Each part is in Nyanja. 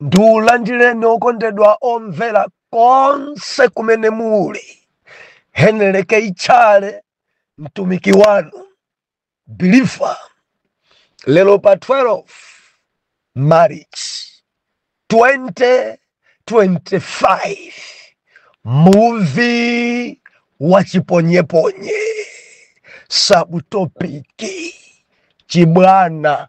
ndilandireni okondedwa omvera konse kumene muli heneleke ichale mtumiki wanu bilifa lero pa 12 march 2025 muvi wachiponyeponye sabutopiki chibwana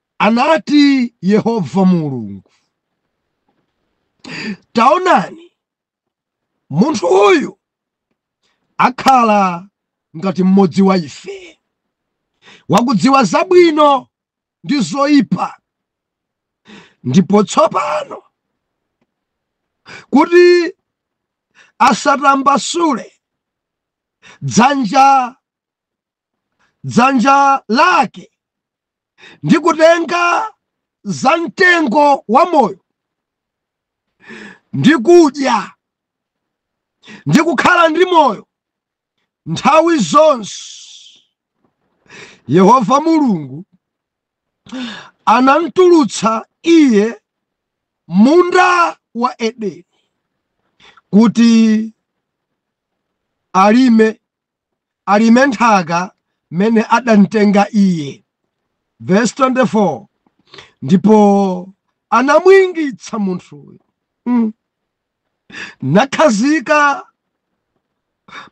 Anati Yehova Mulungu, Taonani, munthu uyu akhala ngati mmodzi wa ife, wakudziwa zabwino ndi zoyipa. Ndipo tsopano kuti asatambasule dzanja dzanja lake ndi kutenga za mtengo wa moyo ndi kudya ndi kukhala ndi moyo nthawi zonse yehova mulungu anamtulutsa iye munda wa edeni kuti alime alime nthaka m'mene adamtenga iye. Vesi 24 Ndipo anamwingitsa munthuyo, mm, nakhazika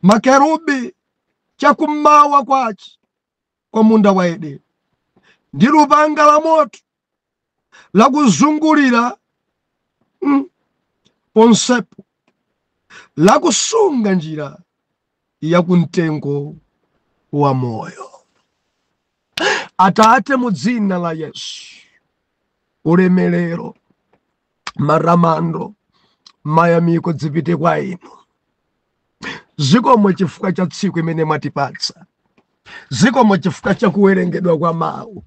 makerubi chakummawa kwace kwa munda wa Edeni ndi lupanga la moto lakuzungulira mm, ponsepo lakusunga njira ya kumtengo wa moyo. Atate, mu dzina la Yesu, ulemerero, matamando, mayamiko zipite kwa inu. zikomo chifukwa cha tsiku imene mwatipatsa zikomo chifukwa cha kuwerengedwa kwa mawu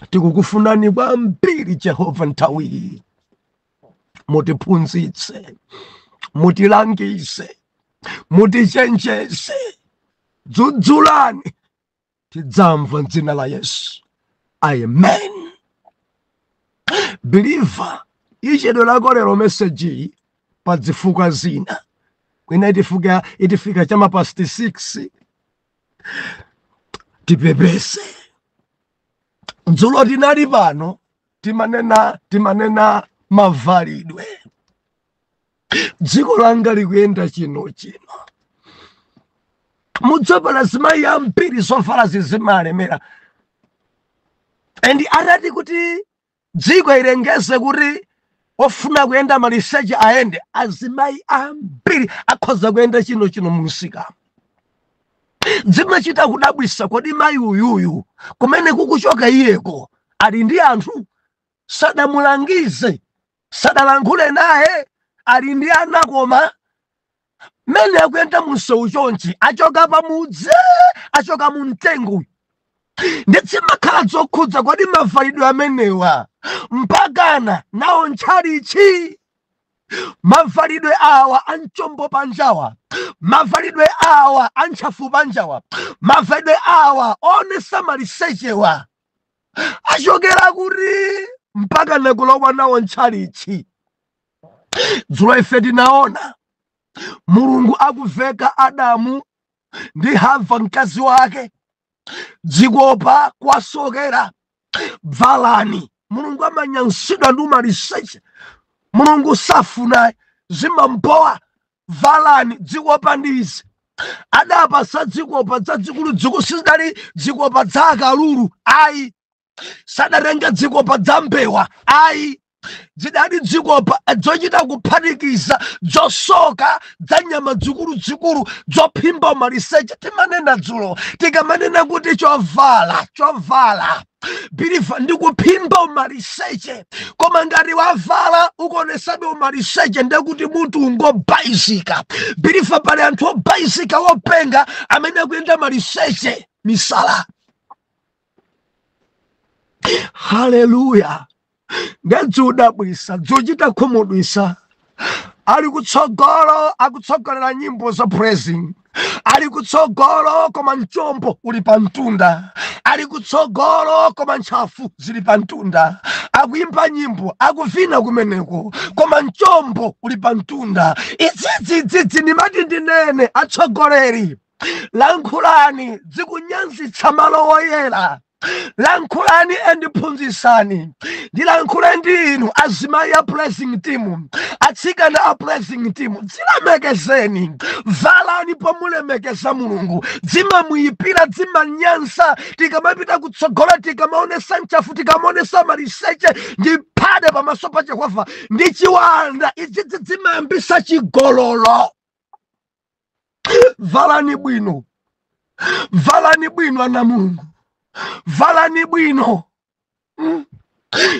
tikukufunani kwambiri jehova nthawi iyi mutiphunzitse mutilangize mutichenjeze dzudzulani tidzamva mdzina la yesu amen biliva ichedwerako lero mesejiyi pa zifukwa zina kwina itifika chama past 6 tipepese dzulo tinali pano timanena timanena mavalidwe dziko langa likuyenda chino chino mudzapeza azimayi ambiri zovala zimawalemera and atati kuti dziko ilengeze kuti ofuna kuyenda maliseche ayende azimayi ambiri akhoza kuyenda chino chino mumsikamu zimachita kudabwisa kodi mayi uyuyu kumene akuchoka iyeko ali ndi anthu sadamulangize sadalankhule naye ali ndi ana koma mmene akuyenda munsewu chonchi achoka pamudzi achoka mu mtengo ndi zimakhala zokhudza kodi mavalidwe amenewa mpakana nawo ntchalichi mavalidwe awa anchombo panjawa mavalidwe awa antchafu panjawa mavalidwe awa onesamalisechewa achokera kuti mpaka kulowa nawo ntchalichi dzulo ife tinaona mulungu akuveka adamu ndi hava mkazi wake dzikopa kuwasokera bvalani mulungu amanyansidwa ndi umaliseche mulungu safuna zimampowa valani dzikopa ndi izi adawapatsa dzikopa dzadzikuludzikulu sizidali dzikopa dza akalulu ayi sadatenga dzikopa dza mbewa ayi dzidali dzikopa dzochita kuphatikiza dzosoka dza nyama dzikuludzikulu dzophimba maliseche timanena dzulo tikamanena kuti chovala chovala biliva ndi kuphimba umaliseche koma ngati wavala ukuonesabe umaliseche ndekuti munthu ngobayizika biliva pali anthu obayizika wopenga amene akuyenda maliseche misala haleluya ndi dzodabwisa dzochita khumudwisa ali kutsogolo akutsogolera nyimbo za praising ali kutsogolo koma mchombo uli pa mtunda ali kutsogolo koma ntchafu zili pa mtunda akuimba nyimbo akuvina kumeneko koma mchombo uli pa mtunda idzidzidzidzi ndimati ndinene atsogoleri lankhulani dzikunyansitsa malo woyera lankhulani and phunzisani ndilankhule ndi inu azimayi a praising team atsikana a praising team dzilemekezeni valani pomulemekeza mulungu dzimamuyipira dzimanyansa tikamapita kutsogolo tikamaonesa nchafu tikamaonesa maliseche ndi phade pamaso pa jehova ndi chiwanda idzidzi dzimayambisa chigololo valani bwino valani bwino ana a Mulungu valani bwino mm.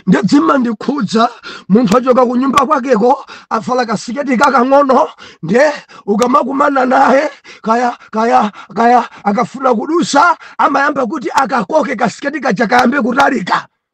nde dzimandikhudza munthu achoka ku nyumba kwakeko avala kasiketi kakang'ono nde ukamakumana naye kaya kaya kaya akafuna kudusa amayamba kuti akakoke kasiketi kaja kayambe kutalika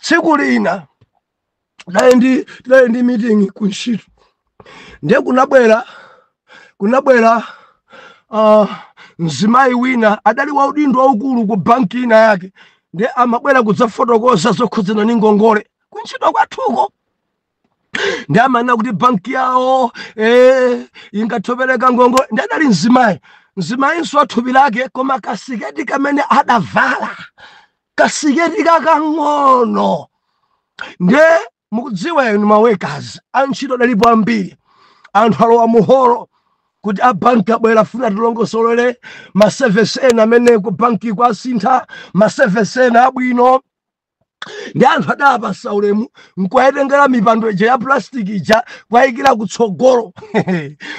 tsiku lina tidali ndi tidali ndi meeting ku ntchito ndiye kunabwera kunabwera uh, mzimayi wina adali wa udindo waukulu ku banki ina yake ndiye amabwera kudzafotokoza zokhudzana ndi ngongole kuntchito kwathuko ndiye amanena kuti banki yawo eh, ingathe kupereka ngongole ndiye adali mzimayi mzimayinso wathupi lake koma kasiketi kamene adavala kasiketi kakang'ono nde mukudziwa inu ma workers antchito adalipo ambiri anthu alowa muholo kuti abanki abwera afuna atilongosolere ma service ena amene ku banki kwasintha ma service ena abwino ndi anthu adawapatsa ulemu nkuwatengera mipando ija ya plastic ija kuwayikira kutsogolo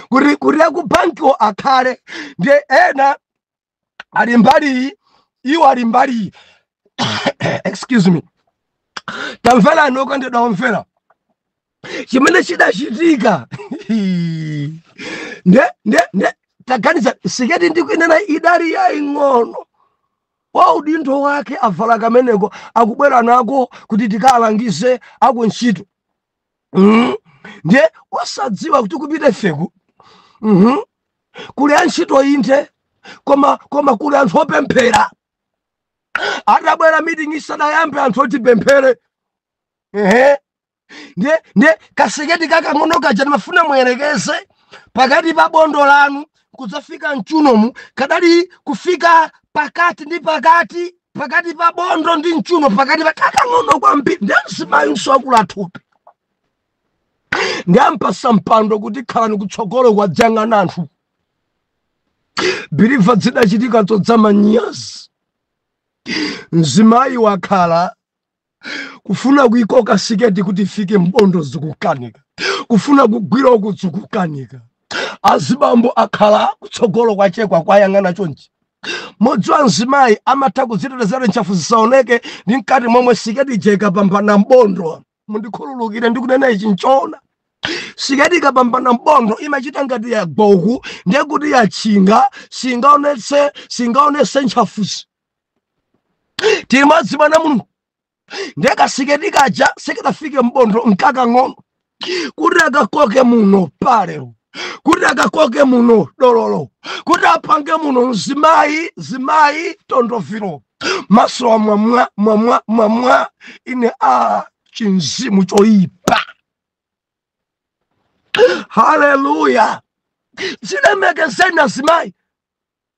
kuti kuti akubankiwo akhale ndi ena ali mbali iyi iwo ali mbali iyi excuse me tamverani okondedwa omvera chimene chidachitika nde nde nde taganiza siketi ndikuinena idali yaing'ono wa udindo wathu avala kameneko akubwera nako kuti tikawalangize akuntchito Mhm. ndiye wosadziwa kuti kupita ifeku Mhm. kuli antchito inde koma koma kuli anthu opemphera atabwera meeting isadayambe anthu oti tipemphere ehe ndiye ndiye kasiketi kakang'ono kaja ndimafuna muyerekeze pakati pa bondo lanu kudzafika mchiunomu kadali kufika pakati ndi pakati pakati pa bondo ndi mchiuno pakati pa kakang'ono kwambiri ndi mzimayinso wakula thupi ndiye ampatsa mpando kuti khalani kutsogolo kuyang'ana anthu believer zidachitika zodzetsa manyazi mzimayi wakhala kufuna kuikoka siketi kuti ifike mbondo zikukanika kufuna kugwira uku zikukanika azibambo akhala kutsogolo kwake akuwayang'ana chonchi mudziwa mzimayi amatha kudzitetezera ntchafu zisaoneke ndi mkati momwe siketi ija ikapambana mbondo mundikhululukire ndikunena ichi nchoona siketi ikapambana mbondo imachita ngati yagwa uku ndiye kuti yatchinga singaonetse singaonetse ntchafuzi timadzimana mulungu ndekasiketi kaja sikadafike mbondo nkakang'ono kuti akakoke muno palero kuti akakoke muno dololo kuti apange muno mzimayi zimayi tondoviro maso wa mwamwa mwamwa mwamwa ine a chinzimu choyipa haleluya zilemekezeni azimayi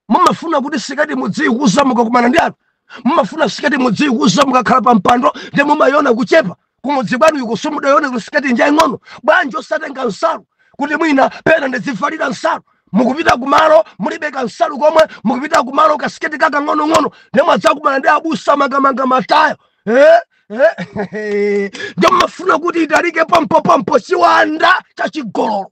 mumafuna kuti siketi mudziikuza mukakumana ndi anthu mumafuna siketi mudziikuza mukakhala pa mpando ndi mumayona kuchepa kumudzi kwanu uko simudayone kuti siketi njaing'ono bwanji osatenga nsalu kuti mwina pena ndidzivalira nsalu mukupita kumalo mulibe kansalu komwe mukupita kumalo kasiketi kakang'onong'ono ndemwadzakumana ndi abusa akamanga matayo eh? Eh? ndiye mmafuna kuti italike pompopompo chiwanda cha chigololo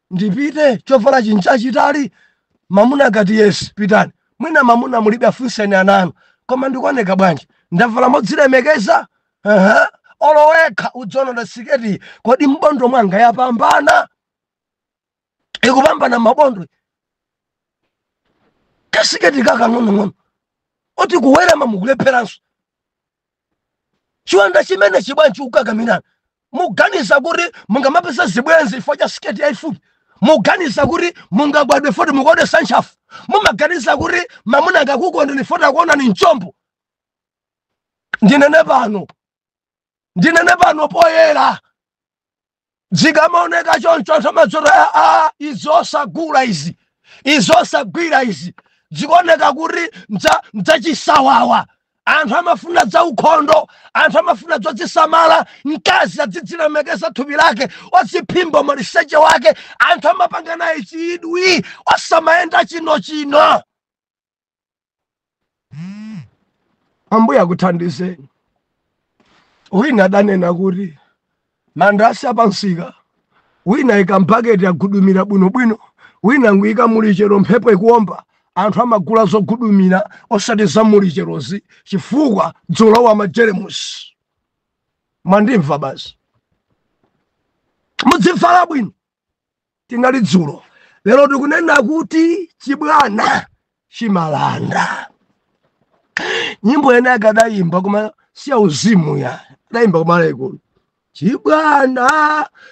ndipite chovala chi ndichachitali mamuna akati yes pitani mwina mamuna mulibe afunseni ana anu koma ndikuoneka bwanji ndavala modzilemekeza Aha. olo wekha udziona siketi kodi mbondo mwanga yapambana ikupambana mabondo kasiketi kakang'onong'ono kuti kuwerama mukulepheranso chiwanda chimenechi bwanji chikukakamirani muganiza kuti mungamapeza zibwenzi chifukwa cha siketi yayifupi muganiza kuti mungakondwe foti mukuonesa ntchafu mumaganiza kuti mamuna akakukondeni foti akuonani mchombo ndinene pano ndinene pano poyera zikamaoneka choncho anthu amadzati aa izi osagula izi izi osagwira izi zikuoneka kuti ndza- ndzachisawawa anthu amafuna za ukhondo anthu amafuna zodzisamala mkazi adzidzilemekeza thupi lake adziphimba maliseche wake anthu amapanga naye chidwi osamayenda chino chino ambuye akuthandizeni wina adanena kuti mandasi apamsika wina waika mpaketi wavundikira bwinobwino wina nkuyika mulichero mphepo ikuomba anthu amagula zovundikira osati za mulicherozi chifukwa zalowa majeremusi mwandimva basi mudzivala bwino tinali dzulo lero tikunena kuti chibwana chimalanda nyimbo ina yake adayimba koma siyauzimu ya adayimba a malayikolo chibwana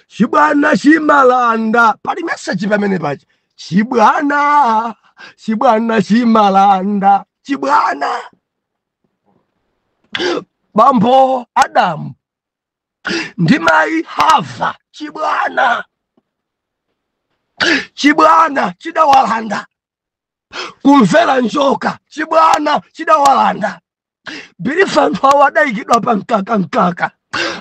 chibwana chimalanda pali meseji pamenepa ti chibwana chibwana chimalanda chibwana bambo adamu ndi mayi hava chibwana chibwana chidawalanda kumvera njoka chibwana chidawalanda bilifa anthu awo adayikidwa pa mkaka mkaka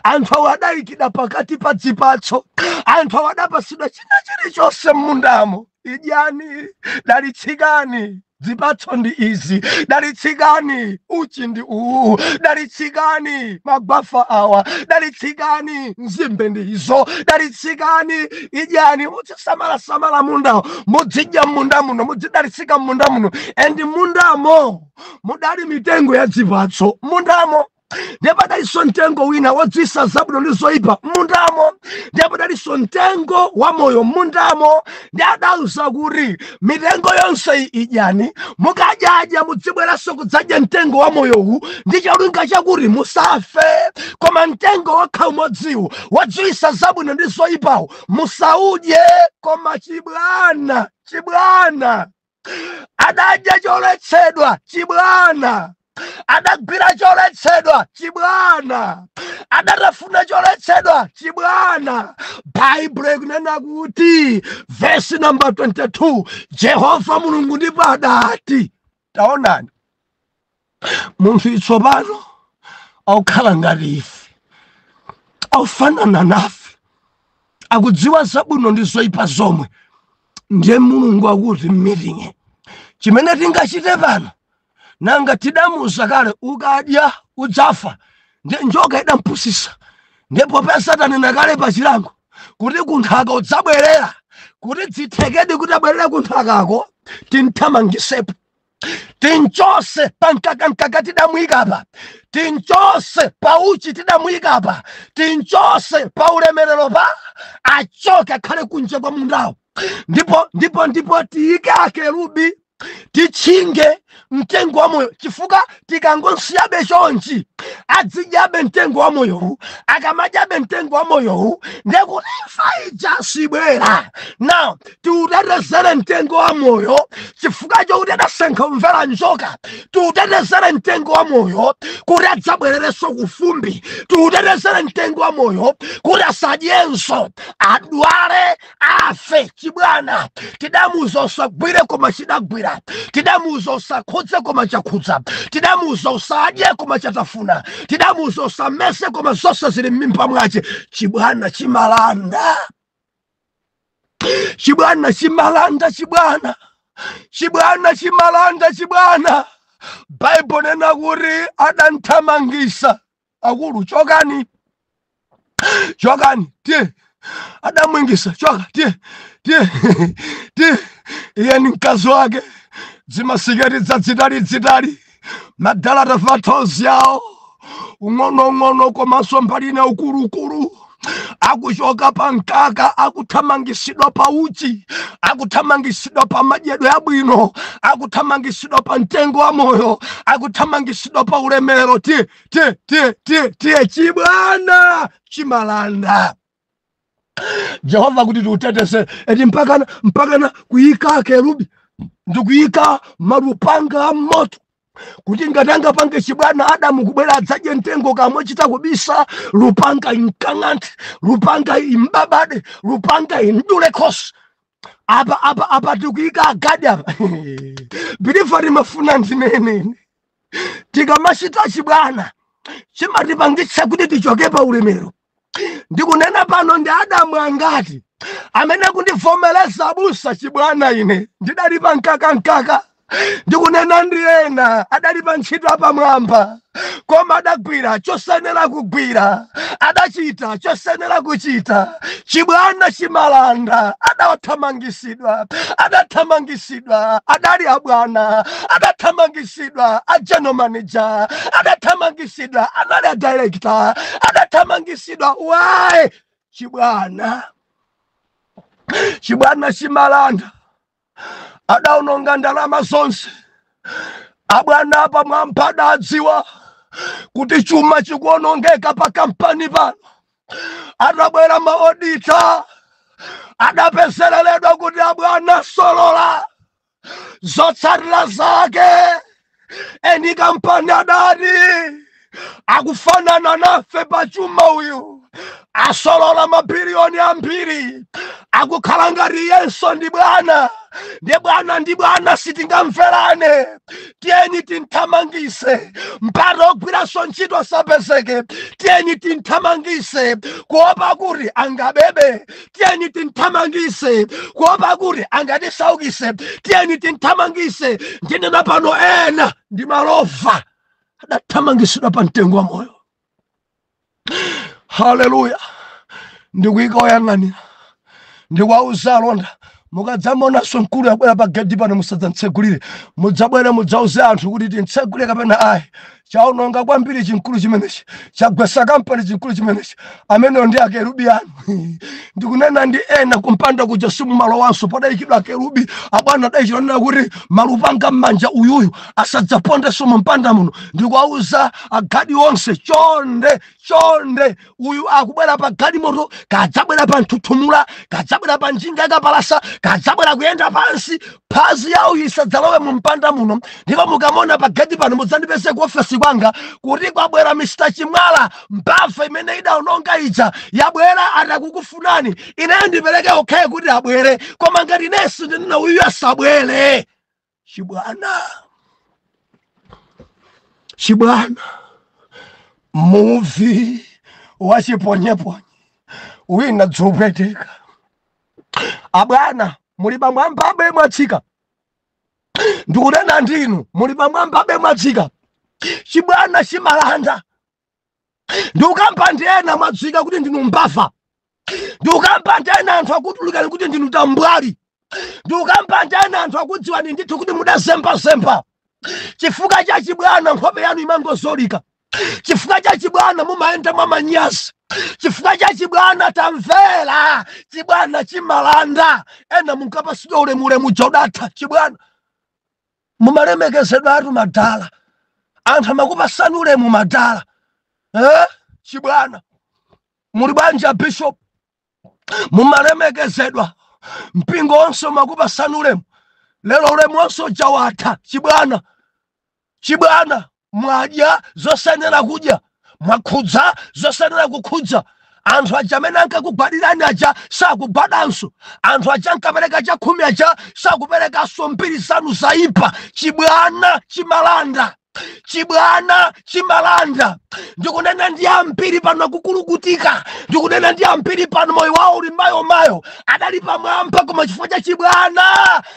anthu awo adayikidwa pakati pa dzipatso anthu awo adapasidwa china chilichonse m'mundamo idyani dalitsikani dzipatso ndi izi dalitsikani uchi ndi uwu dalitsikani magwafa awa dalitsikani nzimbe ndi izo dalitsikani idyani muzisamala samala mundawo mudzidya munda muno mudzidalitsika m'munda muno and m'mundamo mudali mitengo ya dzipatso m'mundamo ndiye padalinso mtengo wina wodziwitsa zabwino ndi zoyipa m'mundamo ndiye padalinso mtengo wa moyo m'mundamo ndiye adawauza kuti mitengo yonse iyi idyani mukadyadya mudzibweranso kudzadya mtengo wa moyowu ndi cholinga chakuti musafe koma mtengo wokha umodziwu wodziwitsa zabwino ndi zoyipawo musaudye koma chibwana chibwana adadya choletsedwa chibwana adagwira choletsedwa chibwana adatafuna choletsedwa chibwana baibulo ikunena kuti vesi namba 22 jehova mulungu ndipo adati taonani munthu itsopano akukhala ngati ife akufanana nafe akudziwa zabwino ndi zoyipa zomwe ndiye mulungu akuti m'miting'i chimene tingachite pano nanga tidamuuza kale ukadya udzafa ndiye njoka idampusisa ndipo paja tanena kale pa chilango kuti kunthaka udzabwerera kuti zithekedi kuti abwerere kunthakako timthamangisepo tinchose pankakankaka tidamuyika apa tinchose pa uchi tidamuyika apa tinchose pa ulemerero pa achoke akhale kunja kwa mundawo ndipo ndipo ndipo tiyike akerubi titchinge mtengo wa moyo chifukwa tikangomsiyabe chonchi adzidyabe mtengo wa moyowu akamadyabe mtengo wa moyowu ndekuti imfa ija sibwera now tiutetezere mtengo wa moyo chifukwa chokuti adasankha kumvera njoka tiutetezere mtengo wa moyo kuti adzabwererenso kufumbi tiutetezere mtengo wa moyo kuti asadyenso adwale afe chibwana tidamuuza usagwire koma chidagwira tidamuuza usakhudze koma chakhudza tidamuuza usadye koma chatafuna tidamuuza usameze koma zonse zili m'mimba mwache chibwana chimalanda chibwana chimalanda chibwana chibwana chimalanda chibwana baibulo ikunena kuti adamthamangisa akulu chokani chokani tiye adamwingisa choka tiye tiye tiye iye ni mkazi wake dzimasiketi dzadzitali dzitali madala tauthozi tawo ung'onoung'ono komanso mbali ina ukulukulu akuchoka pa mkaka akuthamangisidwa pa uchi akuthamangisidwa pa madyedwe abwino akuthamangisidwa pa mtengo wa moyo akuthamangisidwa pa ulemero ti tie tie tie tie chibwana chimalanda jehova kuti tiutetese eti mpakana mpakana kuyika akerubi ndikuyika malupanga a moto kuti ngati angapange chibwana adamu kubwera adzadye mtengo kamwe chita kubisa lupanga imkang'anthe lupanga imbabade lupanga imdule khosi apa apa apa tikuyika agadi apa bilifa limafuna ndinenene tikamachita chibwana chimatipangitsa kuti tichoke pa ulemero ndikunena pano ndi adamu angati amene akundivomereza abusa chibwana ine ndidali pa mkaka mkaka ndikunena ndi ena adali pa ntchito yapamwamba koma adagwira chosenera kugwira adachita chosenera kuchita chibwana chimalanda adathamangisidwa adathamangisidwa adathamangitsidwa adali abwana adathamangitsidwa a general manager adathamangitsidwa anali a director adathamangitsidwa why chibwana chibwana chimalanda adaononga ndalama zonse abwana apamwamba adadziwa kuti chuma chikuonongeka pa kampani pano atabwera maodita adapezeleledwa kuti abwana asolola zotsatira zake eni kampani adati akufanana nafe pa chuma uyu asolola mabiliyoni ambiri akukhala ngati iyenso ndi bwana ndi bwana ndi bwana sitingamverane tiyeni tinthamangise mpata ogwiranso ntchito asapezeke tiyeni tinthamangise kuopa kuti angabebe tiyeni tinthamangise kuopa kuti angatisaukise tiyeni tinthamangise ndinena pano ena ndi malova adathamangisidwa pa mtengo wa moyo haleluya ndikuyika oyang'anira ndikuwauza alonda mukadzamonanso mkuluyu wabwera pa gedi pano musadzamtsegulire mudzabwere mudzauze anthu kuti timtsegulire kapena ayi chaononga kwambiri chimkulu chimenechi chagwesa kampani chimkulu chimenechi ameneyo ndi akerubi anu ndikunena ndi ena kumpanda kuja simumalowanso padayikidwa akerubi abwana adachita kunena kuti malupanga m'manja uyuyu asadzapondenso mumpanda muno ndikuwauza agadi onse chonde chonde uyu kaya adzabwera pa galimoto kaya adzabwera pa nthuthumula kaya adzabwera pa njinga yakapalasa kaya adzabwera akuyenda pansi phazi la uyu lisadzalowe mu mpanda muno ndipo mukamona pa gedi pano mudzandipeze ku ofesi kwanga kuti kwabwera mr chimwala mbava imene idaononga ija yabwera ati akukufunani ineyo ndipereke okhaye kuti abwere koma ngati inenso ndinena uyu asabwere chibwana chibwana muvi wachiponyeponye wina udzipweteka abwana muli pamwamba abe mwatsika ndikunena ndinu muli pamwamba abe mwatsika chibwana chimalanda ndikukamba ndi ena mwadziwika kuti ndinu mbava ndikukamba ndi ena anthu akutulukani kuti ndinu tambwali ndikukamba ndi ena anthu akudziwani ndithu kuti mudazembazemba chifukwa cha chibwana nkhope yanu imangozolika chifukwa cha chibwana mumayenda mwa manyazi chifukwa cha chibwana tamvera chibwana chimalanda ena munkapasidwa ulemu ulemu uja udatha chibwana mumalemekezedwatu madala anthu amakupasani ulemu madala eh? chibwana muli bwanji a bishop mumalemekezedwa mpingo wonse umakupasani ulemu lero ulemu wonse uja watha chibwana chibwana mwadya zosayenera kudya mwakhudza zosayenera kukhudza anthu aja amene ankakugwadirani aja sakugwadanso anthu aja ankapereka chakhumi aja sakuperekanso mbiri zanu zayipa chibwana chimalanda chibwana chimalanda ndikunena ndi ambiri pano akukulukutika ndikunena ndi ambiri pano moyo wawo uli mayo mayo adali pamwamba koma chifukwa cha chibwana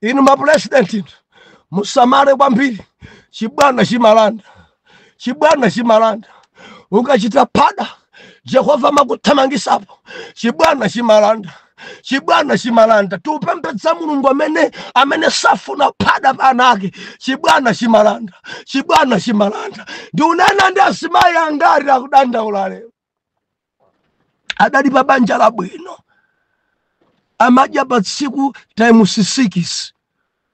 inu mapulezidenti inu musamale kwambiri chibwana chimalanda chibwana chimalanda ukachita phada jehova amakuthamangisapo chibwana chimalanda chibwana chimalanda tikupembedza mulungu amene amene safuna phada pa ana ake chibwana chimalanda chibwana chimalanda ndikunena ndi azimayi angati akudandaula lero adali pa banja labwino amadya pa tsiku times 6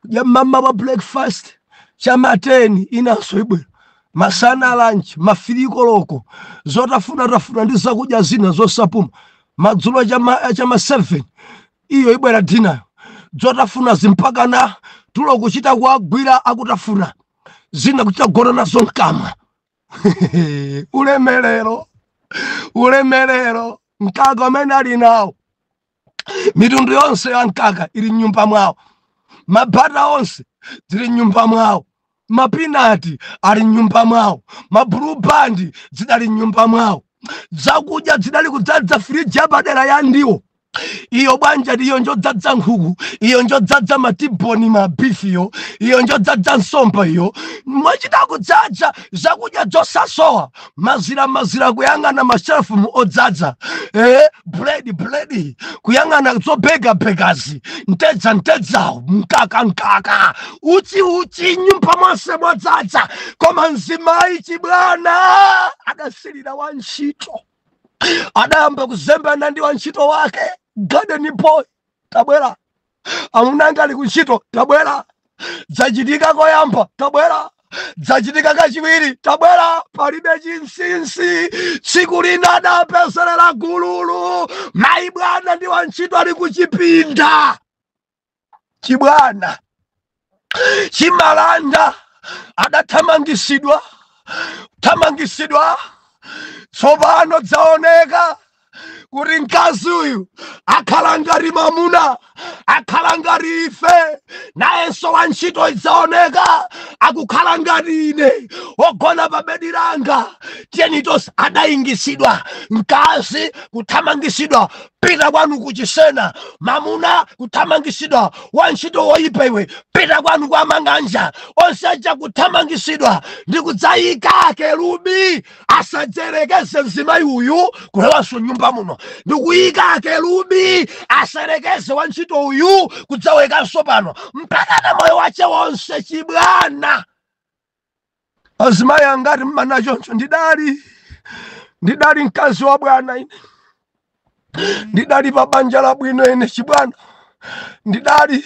kudya mmamawa breakfast chama 10 inanso ibwera masana lanchi ma firii koloko zotafuna tafuna ndi zakudya zina zosapuma madzulo chama chama 7 iyo ibwera dinayo zotafuna zimpakana tulo kuchita kuagwira akutafuna zina kuchita gona nazo mkamwa ulemerero ulemerero mkaka umene ali nawo mitundu yonse ya mkaka ili mnyumba mwawo mabata onse zili mnyumba mwawo mapinati ali mnyumba mwawo mabulu bandi zidali mnyumba mwawo zakudya zidali kudzaza firiji yapadera ya ndiwo iyo bwanji iyo njodzadza nkhuku iyo njodzadza matiboni mabifiyo iyo njodzadza nsomba iyo mwachita kudzadza zakudya zosasowa mazira mazira kuyang'ana mashelufumu odzadza eh, buledi buledi kuyang'ana zobegabegazi ntedza ntedza mkaka mkaka uchi uchi nyumba monse mwadzadza koma mzimayi chibwana adasilira wa ntchito adayamba kuzembana ndi wantchito wake garden boy tabwera amuna anga ali kuntchito tabwera zachitika koyamba tabwera zachitika kachiwiri tabwera palibe chinsinsi tsiku lina adapezerera gululu mayi bwana ndi wantchito ali kuchipinda chibwana chimalanda adathamangitsidwa kuthamangitsidwa tsopano dzaoneka kuti mkazi uyu akhala ngati mamuna akhala ngati ife nayenso wantchito idzaoneka akukhala ngati ine wogona pa bedi langa tiyeni tonse adayingitsidwa mkazi kuthamangitsidwa pita kwanu kuchisena mamuna kuthamangitsidwa wantchito woyipa iwe pita kwanu kwa mang'anja onse aja kuthamangitsidwa ndi kudzayika akerubi asadzerekeze mzimayi uyu kulowanso nyumba muno ndi kuyika akerubi asayerekeze wantchito uyu kudzaonekanso pano mpaka na moyo wache wonse chibwana azimayi angati mmanena choncho ndidali ndidali mkazi wa bwana ine ndidali pa banja labwino ine chibwana ndidali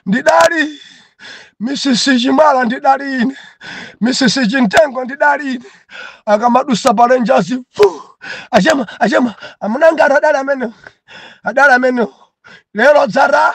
ndidali misisi chimwala ndidali ine misisi chintengo ndidali ine akamadusa palenjazi vuu achemwa achemwa amunanga ati adali amenewo adali amenewo lero dzara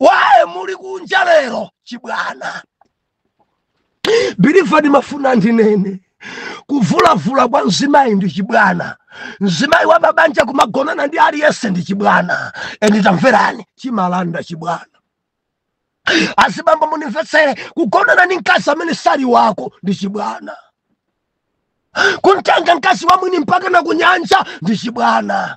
waye muli kunja lero chibwana biliva ndimafuna ndinene kuvulavula kwa mzimayi ndi chibwana mzimayi wa pabanja kumagonana ndi aliyense ndi chibwana eni tamverani chimalanda chibwana azibambo munimvetsere kugonana ndi mkazi amene sali wako ndi chibwana kumtenga mkazi wa mwini mpaka na kunyanja ndi chibwana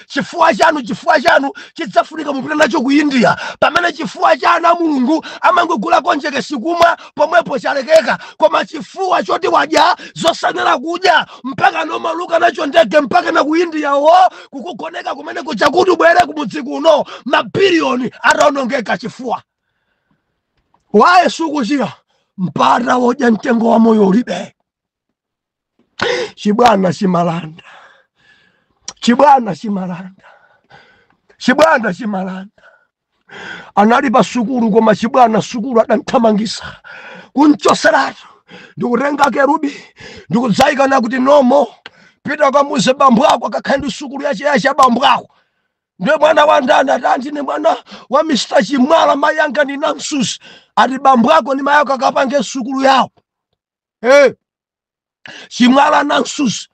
chifuwa chanu chifuwa chanu chidzafunika mupita nacho ku india pamene chifuwa cha ana a mulungu amangogula konjekesi kumwa pomwepo chalekeka koma chifuwa choti wadya zosayenera kudya mpaka nomauluka nacho ndege mpaka na ku india wo kukugoneka kumene kuja kuti ubwere kumudzi kuno mabiliyoni ataonongeka chifuwa waye sukuchira mpata wodya mtengo wa moyo ulibe chibwana chimalanda chibwana chimalanda chibwana chimalanda anali pa sukulu koma chibwana sukulu adamthamangisa kunchoseratu ndikutenga kerubi ndikudzayikana kuti no more pita kamuuze bambo ako akakhale ndi sukulu yache yache abambo ako ndiye mwana wa ndani ati anti ni mwana wa mr chimwala mayi anga ndi namsusi ati bambo ako ndi mayi ako akapange sukulu yawo hey. chimwala namsusi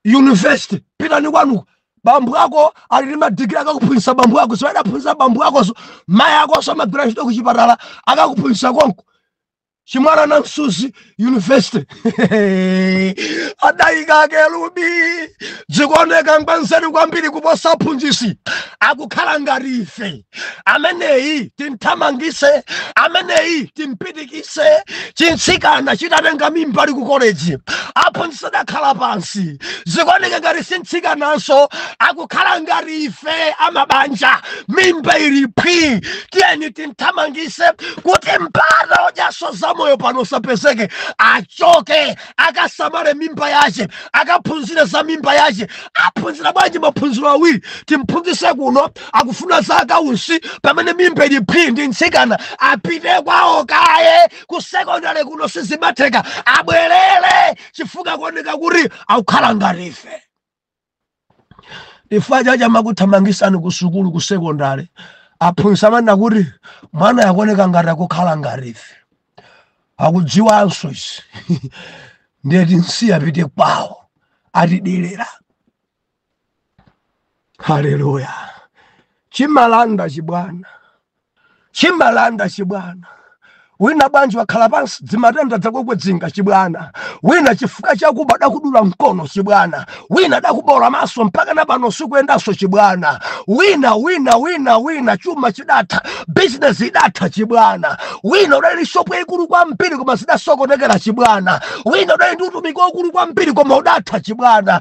university pitani kwanuko bambu ako ali ndi madigiri akakuphunzitsa bambu ako si adaphunzitsa bambu akonso mayi akonso amagwira ntchito ku chipatala akakuphunzitsa konko chimwala namsusi university adayika kerubi dzikuoneka ngwanzeru kwambiri kuposa aphunzitsi akukhala ngati ife ameneyi timthamangise ameneyi timpitikise chintsikana chitatenga mimba ali ku koleji aphunzitsi adakhala pansi zikuoneka ngati sintsikananso akukhala ngati ife amabanja mimba ili phwi tiyeni timthamangise kuti mpata odyaso za moyo pano usapezeke achoke akasamale mimba yache akaphunzire za mimba yache aphunzira bwanji maphunziro awiri timphunzise kuno akufuna za accounts pamene mimba ili phwi ndi mtsikana apite kwawo kaye ku sekondale kuno sizimatheka abwerere chifukwa akuoneka kuti akukhala ngati ife chifukwa chache amakuthamangisani ku sukulu ku sekondale aphunzitsi amanena kuti mwanayu akuoneka ngati akukhala ngati ife akudziwanso izi nde tinsiya apite kwawo atidelera haleluya chimalanda chibwana chimalanda chibwana wina bwanji wakhala pansi dzimatenda dzakukwidzinga chibwana wina chifukwa chakuba adakudula mkono chibwana wina adakuboola maso mpaka na pano sukuyendanso chibwana wina wina wina wina chuma chidatha bizinesi idatha chibwana wina udali ndi shopu yaikulu kwambiri koma zidasokonekera chibwana wina udali ndi utumiki waukulu kwambiri koma udatha chibwana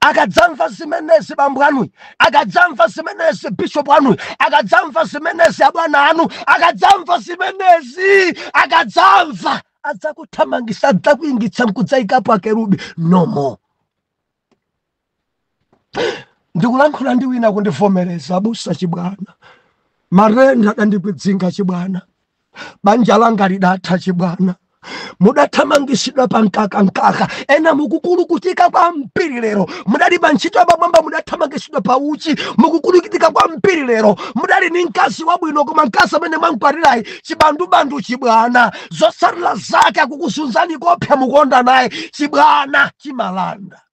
akadzamva zimenezi bambo anu akadzamva zimenezi bishopu anu akadzamva zimenezi abwana anu akadzamva zimenezi akadzamva adzakuthamangisa adzakuingitsa nkudzayikapo akerubi no more ndikulankhula ndi wina akundivomereza abusa chibwana matenda adandikwidzinga chibwana banja langa lidatha chibwana mudathamangisidwa pa mkaka mkaka ena mukukulukutika kwambiri lero mudali pa ntchito yapamwamba mudathamangisidwa pa uchi mukukulukutika kwambiri lero mudali ni mkazi wabwino koma mkazi amene mwankwatirayi chibandubandu chibwana zotsatira zake akukuzunzani koopsa mukuonda naye chibwana chimalanda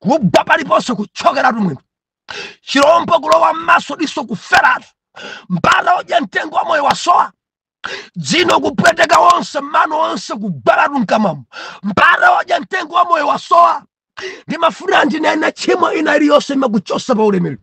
kugwa paliponse kutchokeratu mwendo chirombo kulowa m'maso diso kuferatu mpata odya mtengo wa moyo wasowa dzino kupweteka wonse mano onse kugwalatu mkamamo mpata odya mtengo wa moyo wasowa ndimafuna ndinene tchimo ina iliyonse imakuchosa pa ulemerero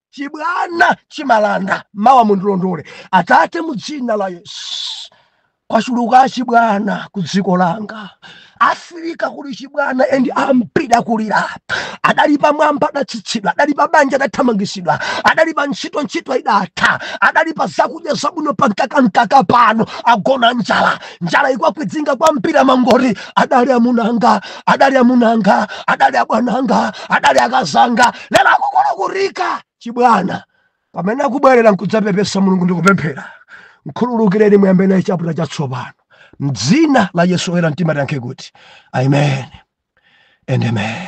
chibwana chimalanda mawa mundilondole atate mu dzina la yesu kwachuluka chibwana ku dziko langa afirika kuli chibwana and ambiri akulira adali pamwamba adatsitsidwa adali pa banja adathamangisidwa adali pa ntchito ntchito idatha adali pa zakudya zabwino pa mkaka mkaka pano agona njala njala ikuwakwidzinga kwambiri amangoti adali amunanga adali amunanga adali abwananga adali akazanga lero akukulukutika chibwana pamene akubwerera nkudzapepesa mulungu ndikupemphera mkhululukireni muyambe naye chaputala chatsopano mdzina la yesu oyera mtima tiyankhe kuti amen and amen